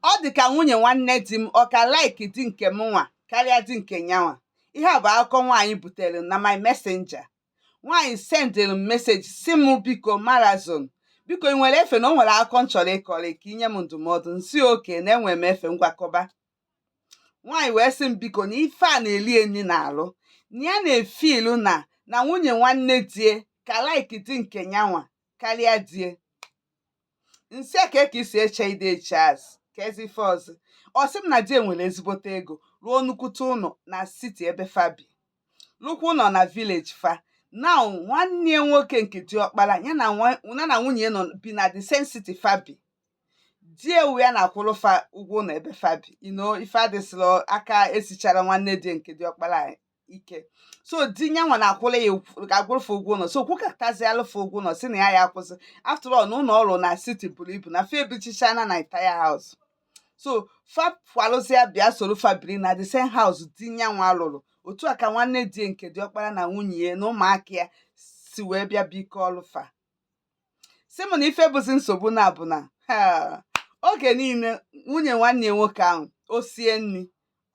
ọ dị ka nwunye nwanne di m ọ ka like di nke mụnwa karịa di nke nyanwa ihe a bụ akụkọ nwaanyị butere na my messenger nwaanyị sendịrị m message sị m biko marazon biko ị nwere efe na o nwere akụkọ m chọrọ ịkọrị ka i nye m ndụmọdụ nsị okay na enwere m efe ngwa kọba nwaanyị wee sị m biko na ife a na-eli e nni n'arụ na ya na-efeel na na nwunye nwanne di e ka like di nke nyanwa karịa di e nsị a ka e ka i si eche ide eche azụ ka ezi ife ọzọ ọ sị m na di e nwere ezigbote ego rụọ nnukwute ụlọ na city ebe fa bi lụkwa ụlọ na village fa now nwanne ya nwoke nke diọkpara ya na nwunye nọ bi na the same city fa bi di e wụ ya na-akwụrụ fa ụgwọ ụlọ ebe fa bi you know ife adịsịrọ aka esicharọ nwanne di e nke diọkpara ike so di nyanwa na-akwụla ya akwụrụ fa ụgwọ ụlọ so kwụkatazialụ fa ụgwọ ụlọ sị na ya ya akwụsị after all na ụlọ ọ rụrụ na city buru ibu na fa ebichichana na entire house so fa kwalụzia bịa soro fa biri na the same house di nyanwa rụrụ otu a ka nwanne di e nke diọkpara na nwunye ya na ụmụaka ya si wee bịa bikọlụ fa sị m na ife bụzi nsogbu now bụ na oge niile nwunye nwanne ya nwoke ahụ o sie nri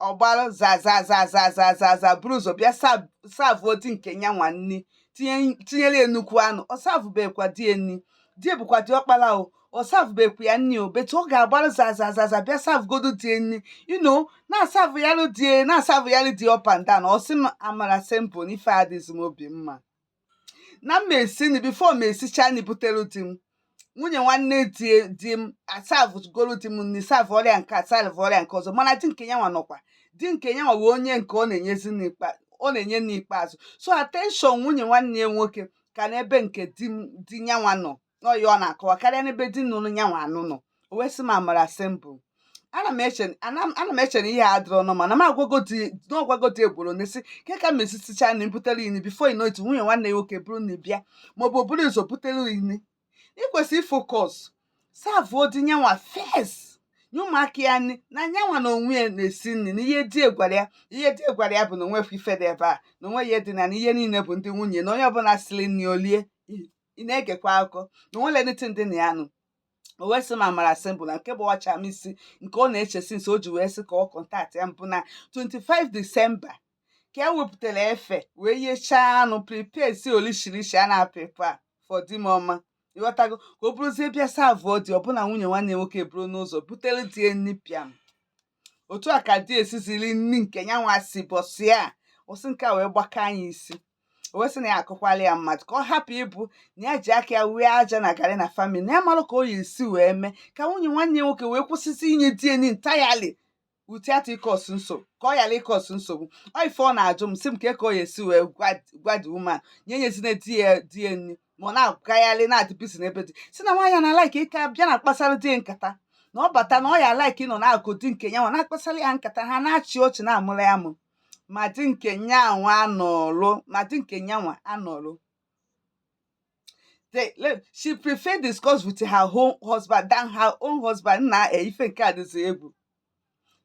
ọ gbara zazazazazazaza buru ụzọ bịa savụ di nke ya nwa nri tinyere ya nnukwu anụ ọ savụbekwa di ya nri di e bụkwa diọkpara o ọ savụbekwa ya nri o but ọ ga-agbara zazazaza bịa savụgodo di ya nri you know na-asavụyalị di e na-asavụyalị di e up and down ọ sị m amara simple na ife adịzi m obi mma na m esi nri before m esicha nri butere di m nwunye nwanne di di m asavụgoro di m nri savụọrọ ya nke a savụọrọ ya nke ọzọ mana di nke ya nwa nọkwa di nke ya nwa wụ onye nke ọ na-enyezi nri ikpe ọ na-enye nri ikpeazụ so attention nwunye nwanne ya nwoke ka n'ebe nke di m di ya nwa nọ na ọ ya ọ na-akọwa karịa n'ebe di nụrụ ya nwa anụ nọ o wee sị m amara simple ana m eche ana m ana m eche na ihe a adịrọ normal na m agwago di na ọ gwago di e gboro na esi ke ka m esisicha nri butere i nni before you know it nwunye nwanne ya nwoke buru nri bịa maọbụ o buru ụzọ butere i nni i kwesị ifocus savụọ di nyanwa first nye ụmụaka ya nri na nyanwa na onwe ya na-esi nri na ihe di gwara ya ihe di gwara ya bụ na o nwefu ife dị ebe a na onwe ya dị na na ihe niile bụ ndị nwunye na onye ọbụla siri nri o lie ị na-egekwa akụkọ na o nwere anything dị na ya nụ o wee sị m amara simple na nke gbawacha m isi nke ọ na-eche since o ji wee sị ka ọ kọntaktịa m bụ na 25 december ka e wepụtara efe wee yechaa anụ prepare si olishirishi a na-prepare for di m ọma ị ghọtago ka o buruzie bịa savụọ di ọ bụ na nwunye nwanne e nwoke buru n'ụzọ butere di e nri pịam otu a ka di esi ziri nri nke ya nwa si bọsị a ọsị nke a wee gbaka anyị isi o wee sị na ya akọkwala ya mmadụ ka ọ hapụ ịbụ na ya ji aka ya wee aja na garị na family na ya amarọ ka ọ ya esi wee mee ka nwunye nwanne ya nwoke wee kwụsịsị inye di ya nri entirely without ịcause nsogbu ka ọ ghara ịcause nsogbu ọ ife ọ na-ajụ m sị m kee ka ọ ya esi wee gwa the woman nya enyezina di ya nri ma ọ na-agagharị na-adị busy n'ebe di sị na nwaanyị na-alike ịka bịa na-akpasara di nkata na ọ bata na ọ ya alike ịnọ n'akụkụ di nke ya nwa na-akpasara ya nkata ha na-achị ọchị na-amụrụ ya amụ ma di nke nya nwa anọlụ ma di nke nya nwa anọlụ she prefer discuss with her own husband than her own husband na ife nke a dịzi egwu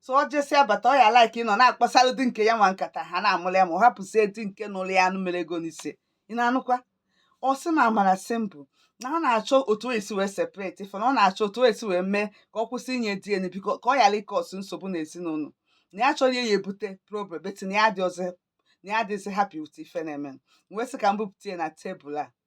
so ọ jesịa bata ọ ya like ịnọ na-akpasara di nke ya nwa nkata ha na-amụrụ ya amụ ọ hapụzie di nke nụrụ ya anụ mere ego n'isi ya ị na-anụkwa ọ sị na amara sị m bụ na ọ na-achọ otu o esi wee separate ife na ọ na-achọ otu o esi wee mee ka ọ kwụsị inye di ya nri biko ka ọ ghara ịcause nsogbu n'ezinụlọ na ya achọrọ ya ebute problem but na ya adịghịzi happy with ife na-eme wee sị ka m bupụta ya na tebụl a